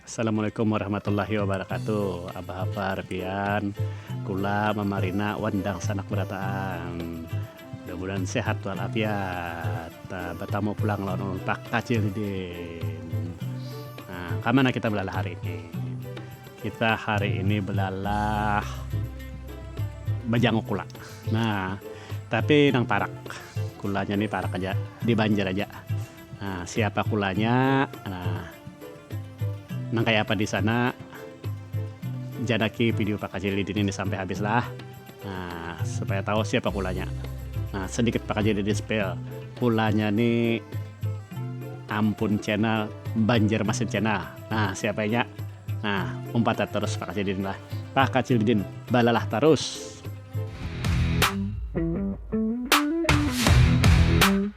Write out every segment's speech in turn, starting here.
Assalamualaikum warahmatullahi wabarakatuh abah hafar pian kula mama rina wan dangsanak barataan mudah mudahan sehat wal afiat batamu pulang lawan ulun pak kacil didin nah kaya mana kita belalah hari ini kita hari ini belalah bajanguk kula nah tapi nang parak kula nya ni parak aja di banjar aja. Nah, siapa kulanya? Nah, nang kayak apa di sana? Janaki video pakajili dini ini sampai habis lah. Nah, supaya tahu siapa kulanya. Nah, sedikit pakajili di spell. Kulanya nih Ampun Channel, Banjarmasin Channel. Nah, siapa nya? Nah, umpat terus pakajili lah. Pakajili din, balalah terus.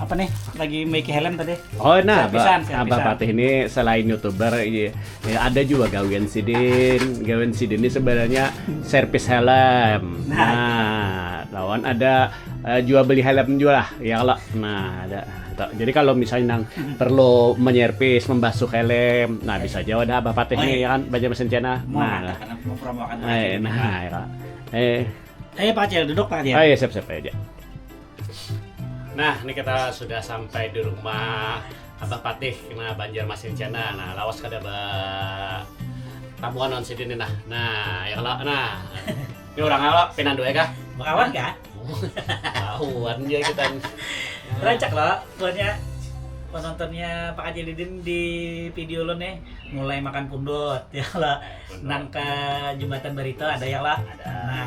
apa nih lagi make helm tadi oh nah pisan, abah, abah patih ini selain youtuber ya, ada juga gawian sidin gawian sidin ini sebenarnya servis helm nah, nah lawan ada uh, jual beli helm juga lah ya kalau nah ada gitu. Jadi kalau misalnya nang perlu menyerpis, membasuh helm, nah bisa jawab ada apa patih oh, nih iya. ya kan baca mesin cina. Nah, nah, nah, nah, eh, eh, Pak Acil duduk Pak Acil. Oh iya siap siap aja. nah ini kita sudah sampai di rumah abah patih kena banjar masin cina nah lawas kada ba tamuan on sidin nah nah ya kalau nah ini orang apa pinandu ya kah bakawan kah bakawan ya kita rancak lo punya penontonnya Pak Haji Lidin di video lo nih mulai makan pundut ya lo nang ke jembatan Barito ada ya lo ada nah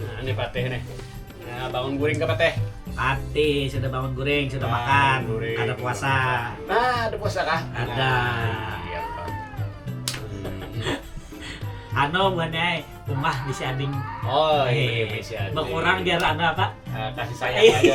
nah ini patih nih nah, bangun guring ke patih Ati sudah bangun guring, sudah Bangun makan, guring, ada puasa. Nah, ada puasa kah? Ada. Iya, Pak. Ano buahnya umah di si ading. Oh, iya, iya, iya, iya. Berkurang biar anu apa? Eh, kasih sayang aja.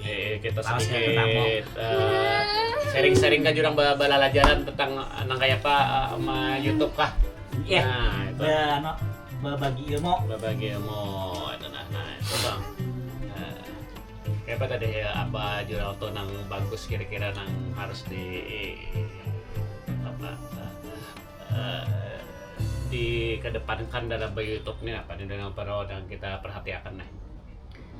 Eh, kita Lawas ya, sedikit tentang mau. eh, sharing-sharing kah jurang ba- balalajaran tentang eh, nang kaya apa eh, ma YouTube kah? Iya. Nah, itu. Ba, ano, babagi ilmu. Babagi ilmu itu nah, nah itu bang. Eh, kayak apa tadi ya apa jurang tuh nang bagus kira-kira nang harus di apa eh, dikedepankan dalam YouTube nih apa nih dengan para orang kita perhatiakan nih.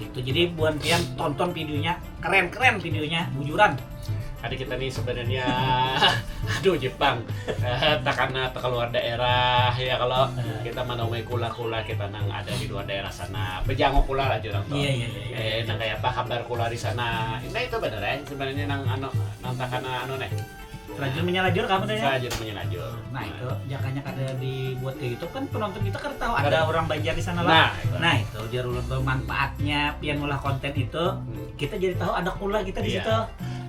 Gitu jadi buan pian tonton videonya keren keren videonya bujuran. Ada kita nih sebenarnya aduh Jepang eh, takana keluar daerah ya kalau eh. kita mana umai kula kula kita nang ada di luar daerah sana pejangok kula lah jurang tuh iya, iya, iya, iya, eh nang kayak apa kabar kula di sana nah itu bener ya sebenarnya nang ano nang takana ano nih rajin menyalajur kamu tanya rajin menyalajur nah itu jakanya kada dibuat ke YouTube kan penonton kita kada tahu ada orang Banjar di sana lah nah itu, nah, itu jar ulun tuh manfaatnya pian ulah konten itu hmm. kita jadi tahu ada kula kita di iya. situ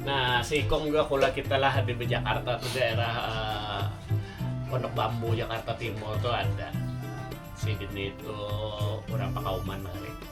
nah seikung juga kula kita lah di Jakarta tuh daerah uh, Pondok Bambu Jakarta Timur tuh ada si Dini itu orang Pakauman hari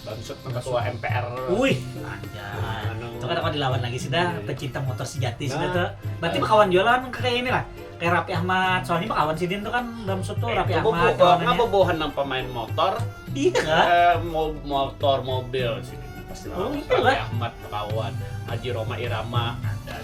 Bangsut nang ketua MPR. Uih, anjay. Itu kada kawa dilawan lagi sudah, pecinta motor sejati sudah tu. Berarti bekawan jua lawan nang kaya ini lah. Kaya Raffi Ahmad, soalnya bekawan sidin tu kan Bamsud tu Raffi Ahmad kawanannya. Ngapa buahan nang pemain motor? Iya kah? Motor, mobil sidin pasti lawan Raffi Ahmad bekawan. Haji Roma Irama ada.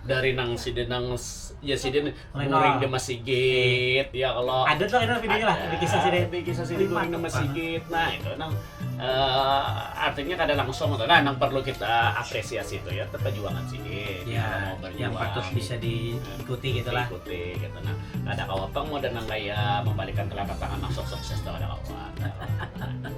dari nang sidin nang ya sidin guring di masigit ya kalau ada tuh ada videonya lah ada kisah sidin ada kisah sidin guring di masigit nah itu nang uh, artinya kada langsung tuh nah nang perlu kita apresiasi itu ya perjuangan sidin ya, ya mau berjuang yang patut bisa diikuti gitu lah diikuti gitu nah ada kawapang mau dan nang kaya membalikan telapak tangan masuk sukses tuh ada kawan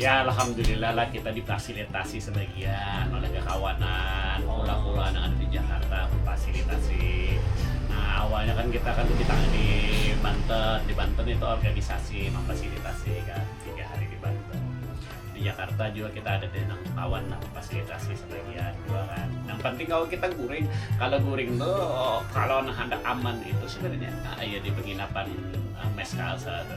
Ya alhamdulillah lah kita difasilitasi sebagian oleh kakawanan pulau-pulau nang ada di Jakarta memfasilitasi. Nah awalnya kan kita kan di tang di Banten, di Banten itu organisasi memfasilitasi kan tiga hari di Banten. Di Jakarta jua kita ada di nang kawan nang memfasilitasi sebagian jua kan. Nang penting kawa kita guring, kalo guring tu kalo nang handak aman itu sebenarnya ya di penginapan Mess Kalsa tu.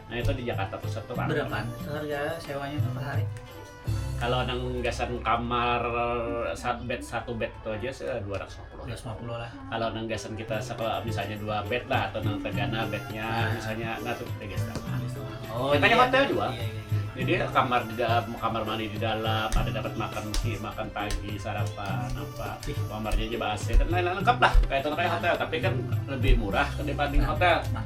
Nah itu di Jakarta Pusat tuh Pak. Berapa harga sewanya tuh per hari? Kalau nang gasan kamar satu bed satu bed itu aja se dua ratus lima puluh. Dua ratus lima puluh lah. Kalau nang gasan kita sekolah misalnya dua bed lah atau nang tegana bednya nah. misalnya nah tuh tiga setengah. Oh, Makanya iya, hotel juga. Iya, iya. iya. Jadi kamar di dalam, kamar mandi di dalam, ada dapat makan si makan pagi, sarapan, apa, kamarnya aja AC dan lain-lain lengkap lah. Kayak itu kayak hotel, tapi kan lebih murah dibanding nah, hotel. Nah,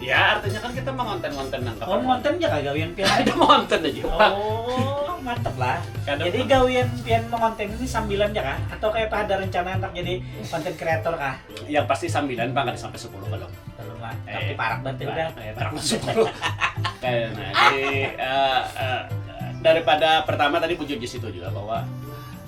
Ya, artinya kan kita mengonten-ngonten nang Oh, ngonten aja kah gawian pian? Ada mengonten aja. Oh, mantep lah. Kadang jadi gawian pian mengonten ini sambilan aja kah? Atau kayak apa ada rencana untuk jadi konten kreator kah? Yang pasti sambilan bang, ada sampai sepuluh belum. Belum lah, eh, tapi parak berarti udah. Eh, parak sepuluh. Karena jadi uh, uh, daripada pertama tadi muncul di situ juga bahwa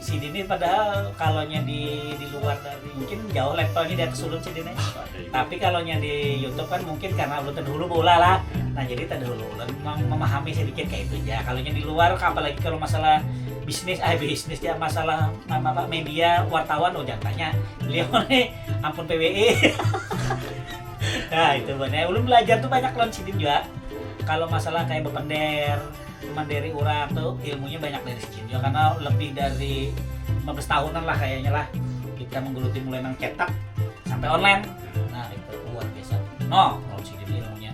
Sidin nih padahal kalonya di di luar dari mungkin jauh levelnya di atas ulun sidin nih. Tapi kalonya di YouTube kan mungkin karena ulun terdahulu beulah lah. Nah jadi terdahulu ulun memahami sedikit kaya itu ja. Kalonya di luar apalagi kalo masalah bisnis eh bisnis ja masalah apa media wartawan oh jangan tanya beliau nih ampun pwe. nah itu buhannya ulun belajar tuh banyak lawan sidin jua kalo masalah kaya bepender. Cuman dari urang tu ilmunya banyak dari si Cinjo karena lebih dari lima belas tahunan lah kayaknya lah kita menggeluti mulai nang cetak sampai online nah itu luar biasa noh menurut si Cinjo ilmunya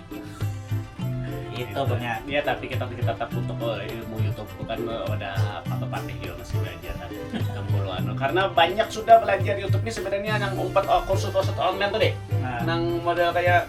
itu bang ya ya tapi kita kita tetap untuk oh, ilmu YouTube itu kan eh, wadah apa bepatih juga masih belajar kan yang bulu anu karena banyak sudah belajar YouTube ini sebenarnya yang umpat oh, kursus-kursus online tuh deh Nah. nang model kayak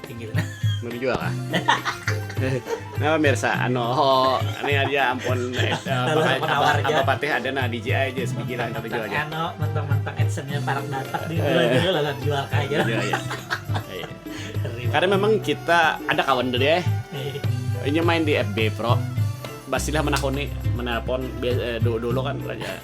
Tinggi benar. Belum jual kah? nah pemirsa, anu oh, ini aja ampun eh, apa, apa patih ada nah DJ aja sepikiran tapi jual aja. Anu mentang-mentang adsense-nya parang datang di jual dulu lah jual kaya. Iya, iya. iya. Karena memang kita ada kawan dulu ya. Ini main di FB Pro. Basilah menakoni, menelpon eh, dulu, dulu kan raja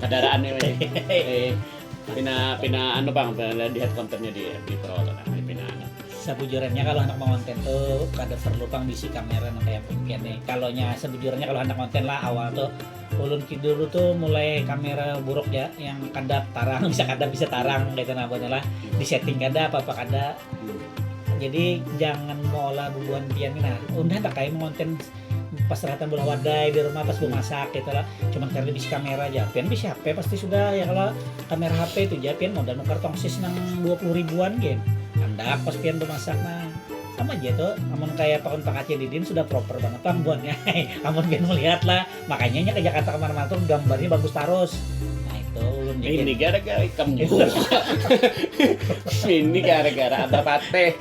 Kadaraan ni weh. Eh, pina pina anu pang pina lihat kontennya di FB Pro tu nah pina anu. Sabujurannya kalu handak mangonten tu kada perlu pang bisi kamera nang kaya pian ni. Kalu nya sabujurannya kalu handak ngonten lah awal tu ulun ki dulu tu mulai kamera buruk ja yang kadap tarang bisa kadap bisa tarang kaitu nah buhannya lah. Di setting kada apa-apa kada. Jadi jangan meolah bubuhan pian ni nah. Unda handak ai mengonten. pas ternyata bola wadai di rumah pas gue masak gitu lah cuman karena bisa kamera aja pian bisa HP pasti sudah ya kalau kamera HP itu aja pian mau dan nukar tongsis nang dua puluh ribuan gen anda pas pian bermasak nah sama aja tuh amun kayak pakun pakaci didin sudah proper banget pang buatnya amun pian melihat lah makanya nya ke Jakarta kemana-mana tuh gambarnya bagus tarus nah itu ulun ini gara-gara ikam juga ini gara-gara abah pateh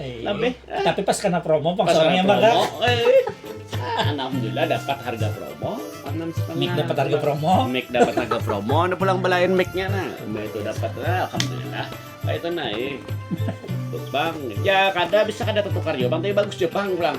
Iya. Lebih. Tapi pas kena promo bang Pas seorang yang kena bakal. promo, eh. Ah, Alhamdulillah dapat harga promo. Enam setengah. Mik dapat harga promo. Mic dapat harga promo, udah pulang belain micnya nah. Nah, itu dapat lah, alhamdulillah. Nah, itu naik. Bang, ya kada bisa kada tertukar juga bang, tapi bagus juga bang pulang.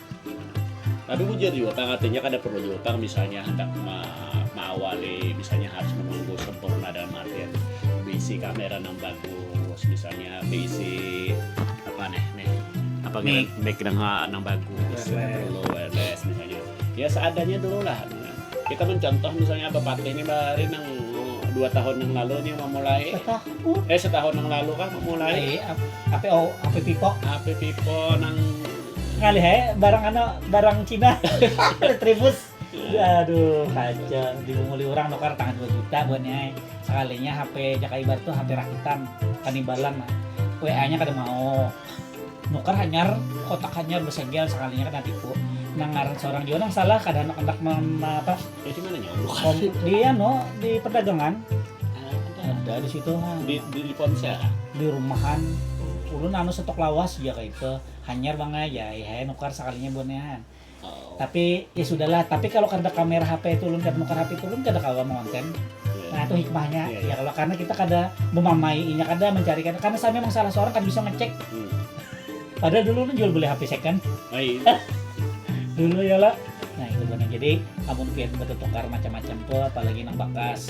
Tapi bujur juga pang artinya kada perlu juga pang misalnya handak maawali misalnya harus menunggu sempurna dalam artian beisi kamera nang bagus misalnya beisi apa nih nih apa mic, mic nang, nang bagus wireless. perlu wireless misalnya ya seadanya dulu lah kita mencontoh misalnya apa pakai ini hari nang dua tahun yang lalu nih memulai setahun eh setahun yang lalu kan memulai apa apa pipo apa pipo nang Ngalih ae barang anu barang Cina Retribus. Aduh kacau dimunguli urang nukar tangah dua juta buhannya ai. Sakalinya HP Jaka Ibar tu HP rakitan, kanibalan nah. WA nya kada mau. Nukar hanyar, kotak hanyar basegel sakalinya kena tipu. Nang ngaran saurang jua nang salah kada handak handak apa di anu di perdagangan ada di situ ha. Di di ponsel kah? Di rumahan. Ulun anu stok lawas ja kaitu. hanyar bang ai ya eh ai nukar sakalinya buat nehan Oh. tapi ya sudahlah tapi kalau kada kamera HP itu ulun kada nukar HP itu ulun kada kawa mengonten Iya. nah itu hikmahnya Iya, iya. ya kalau karena kita kada memamainya kada mencari kada karena saya memang salah seorang kada bisa ngecek Hmm. padahal dulu ulun jual beli HP second Ai. dulu ya lah nah itu benar jadi amun pian bertukar macam-macam tuh apalagi nang bakas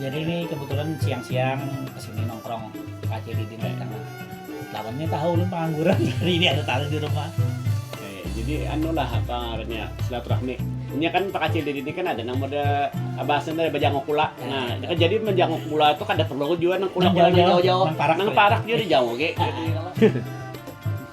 Jadi ni kebetulan siang-siang kesini nongkrong kacil di Dindas Tengah. Lawan ni tahu ulun pengangguran hari ini ada tamu di rumah. Eh, jadi anu lah apa ngarannya silaturahmi. Ini kan pakacil di sini kan ada nang mada bahasa dari bajangok kula. Nah, nah jadi menjangok kula itu kada perlu juga nang kula-kula jauh-jauh. Nang parak, nang parak juga dijangok.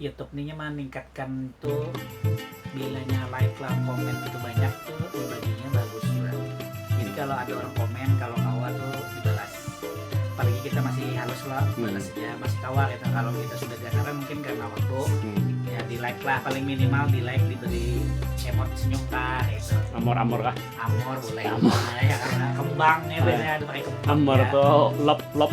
YouTube nih mah ningkatkan tuh bilanya like lah komen itu banyak tuh ibaginya bagus juga jadi kalau ada orang komen kalau kawa tuh dibalas apalagi kita masih halus lah hmm. balas ya masih kawa gitu kalau kita sudah ganaran mungkin karena waktu hmm. ya di like lah paling minimal di like diberi emot senyum kah gitu amor amor kah amor boleh amor. ya karena kembang ya biasanya ada pakai kembang amor ya. tuh lop lop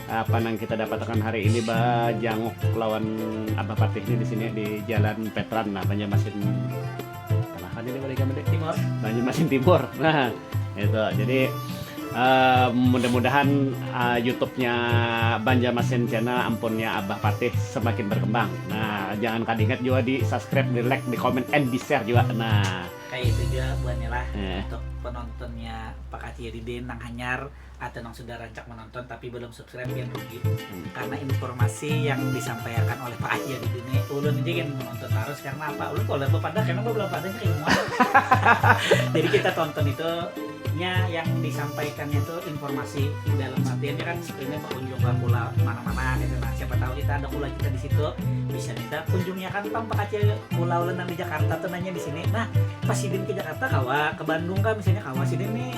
Apa nang kita dapatakan hari ini bajanguk lawan Abah Patih ni di sini di Jalan Petran nah Banjarmasin tengah kah ini malinya mende? Timur. Banjarmasin Timur. Nah, itu. Jadi eh, mudah-mudahan eh, YouTube-nya Banjarmasin Channel ampunnya Abah Patih semakin berkembang. Nah, jangan kada ingat jua di subscribe, di like, di comment, and di share jua. Nah, Kaya itu jua buhannya lah Eh. untuk penontonnya Pak Kaciri Din nang hanyar atau yang sudah rancak menonton tapi belum subscribe yang rugi hmm. karena informasi yang disampaikan oleh Pak Aji di dunia ulun aja yang menonton terus karena apa ulun kalau lebih pada karena belum pada ilmu jadi kita tonton itu nya yang disampaikannya itu informasi di dalam artiannya kan ini berkunjung ke pula mana-mana gitu nah siapa tahu kita ada pula kita di situ bisa kita kunjungnya kan tong Pak Aji pulau ulun di Jakarta tuh nanya di sini nah pas sidin ke Jakarta kawa ke Bandung kan misalnya kawa sidin nih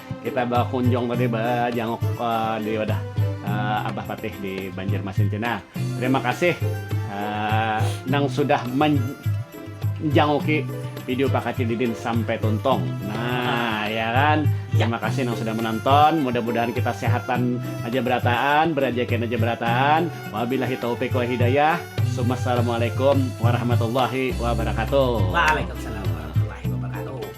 Kita bakunjung tadi bajanguk di wadah Abah Patih di Banjarmasin cina. Terima kasih nang sudah manjanguki video Pak Kacil Didin sampai tuntung. Nah, ya kan? Terima kasih nang sudah menonton. Mudah-mudahan kita sehatan aja berataan, berajakian aja berataan. Wabillahi taufiq wal hidayah. Summa assalamualaikum warahmatullahi wabarakatuh. Waalaikumsalam warahmatullahi wabarakatuh.